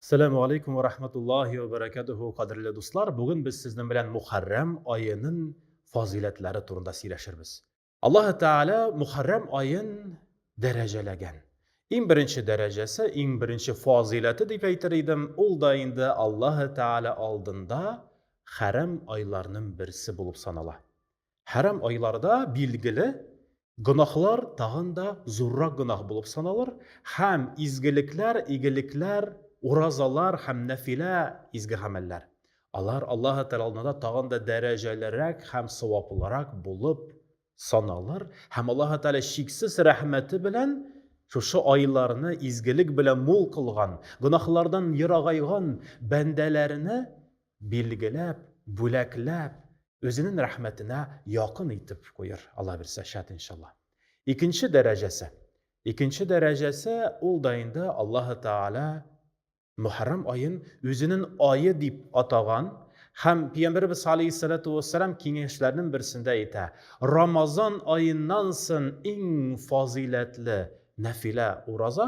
Сәләму алейкум ва рахматуллахи ва баракатуху, кадерле дуслар, бүген без сезнең белән Мухаррам аенын фазыйләтләре турында сөйләшербез. Аллаһы Тәгалә Мухаррам аен дәрәҗәләгән. Иң беренче дәрәҗәсе, иң беренче фазыйләте дип әйтер идем, ул да инде Аллаһы Тәгалә алдында хәрам айларның берсе булып санала. Хәрам айларда билгеле гөнаһлар тагын да зуррак гөнаһ булып саналыр һәм изгелекләр, игелекләр, уразалар һәм нәфилә изге гамәлләр. Алар Аллаһ Тәгалә алдында тагын да дәрәҗәлерәк һәм саваплырак булып саналыр һәм Аллаһ Тәгалә чиксез рәхмәте белән шушы айларны изгелек белән мул кылган, гөнаһлардан ерагайган бәндәләренә билгеләп, бүләкләп, үзенең рәхмәтенә якын итеп куер, Алла бирсә, шат иншалла. Икенче дәрәҗәсе. Икенче дәрәҗәсе ул да инде Аллаһы Тааля Мөхәррәм аен үзенең айы дип атаган һәм Пәйгамбәрбез алейһиссалату вассалам киңәшләренең берсендә әйтә, Рамазан аеннан сон иң фазыйләтле нәфилә ураза,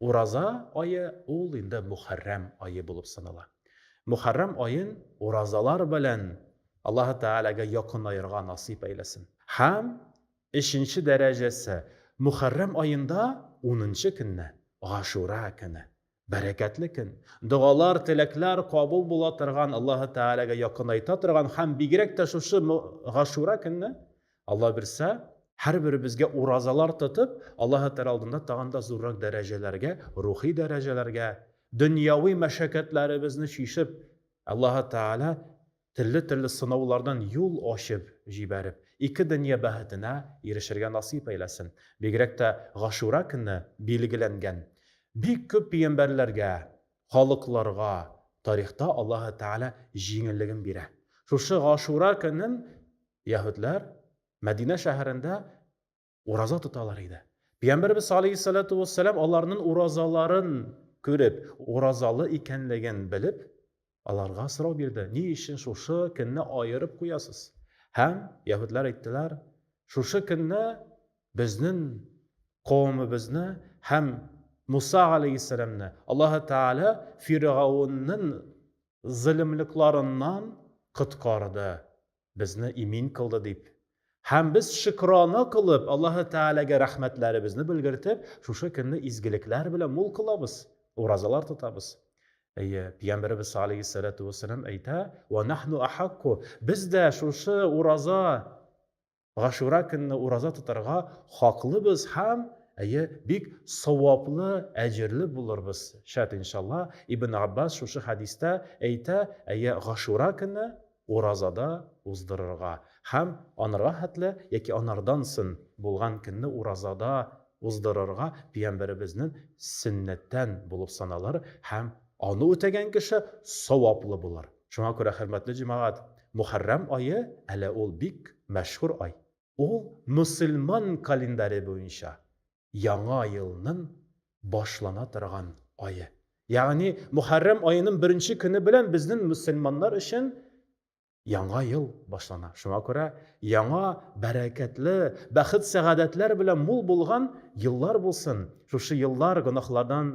Ураза ае ул инде Мөхәррәм ае булып санала. Мөхәррәм аен уразалар белән Аллаһы Тәгаләгә якынаерга насыйп әйләсен. Һәм өченче дәрәҗәсе, Мөхәррәм аенда унынчы көнне, Гашура көне. Бәрәкәтле көн, догалар, теләкләр кабул була торган, Аллаһы Тәгаләгә якынайта торган һәм бигрәк тә шушы Гашура көнне Алла бирсә, һәрберебезгә уразалар тотып, Аллаһы Тәгалә алдында тагын да зуррак дәрәҗәләргә, рухи дәрәҗәләргә, дөньяви мәшәкатьләребезне чишеп, Аллаһы Тәгалә төрле-төрле сынаулардан юл ачып җибәреп, ике дөнья бәхетенә ирешергә насыйп әйләсен. Бигрәк тә Гашура көне билгеләнгән бик күп пигамбәрләргә, халыкларга тарихта Аллаһы Тәгалә җиңеллеген бирә. Шушы Гашура көнен Яһүдләр Мәдинә шәһәрендә ураза тоталар иде. Пәйгамбәрбез алейһиссалату вассалам аларның уразаларын күреп, уразалы икәнлеген белеп, аларга сорау бирде. Ни өчен шушы көнне аерып куясыз? Һәм яһүдләр әйттеләр, шушы көнне безнең кавымыбызны һәм Муса алейһиссаламны Аллаһ Тәгалә Фиргаунның зөлемлекларыннан коткарды. безне имин кылды дип, һәм без шөкрана кылып, Аллаһы Тәгаләгә рәхмәтләребезне белгертеп, шушы көнне изгелекләр белән мул кылабыз, уразалар тотабыз. Әйе, Пәйгамбәребез саллаллаһу сәләту вәссәлам әйтә, «Ва нахну ахакку» Без дә шушы ураза Гашура көнне ураза тотарга хаклыбыз һәм әйе, бик саваплы, әҗерле булырбыз. Шәт иншалла. Ибн Аббас шушы хәдистә әйтә, әйе, Гашура көнне Уразада уздырырга һәм анырга хәтле яки анардан сон булган көнне уразада уздырырга пиямбәребезнен сөннәттән булып саналыр һәм аны үтәгән кеше саваплы булыр. Шуңа күрә, хөрмәтле җәмәгать, Мөхәррәм ае, әле ул бик мәшһүр ай. Ул мөселман календаре буенча яңа елнын башлана торган ае. Ягъни Мөхәррәм аенын беренче көне белән безнен мөселманнар өчен яңа ел башлана. Шуңа күрә яңа бәрәкәтле, бәхет-сәгадәтләр белән мул булган еллар булсын. Шушы еллар гөнаһлардан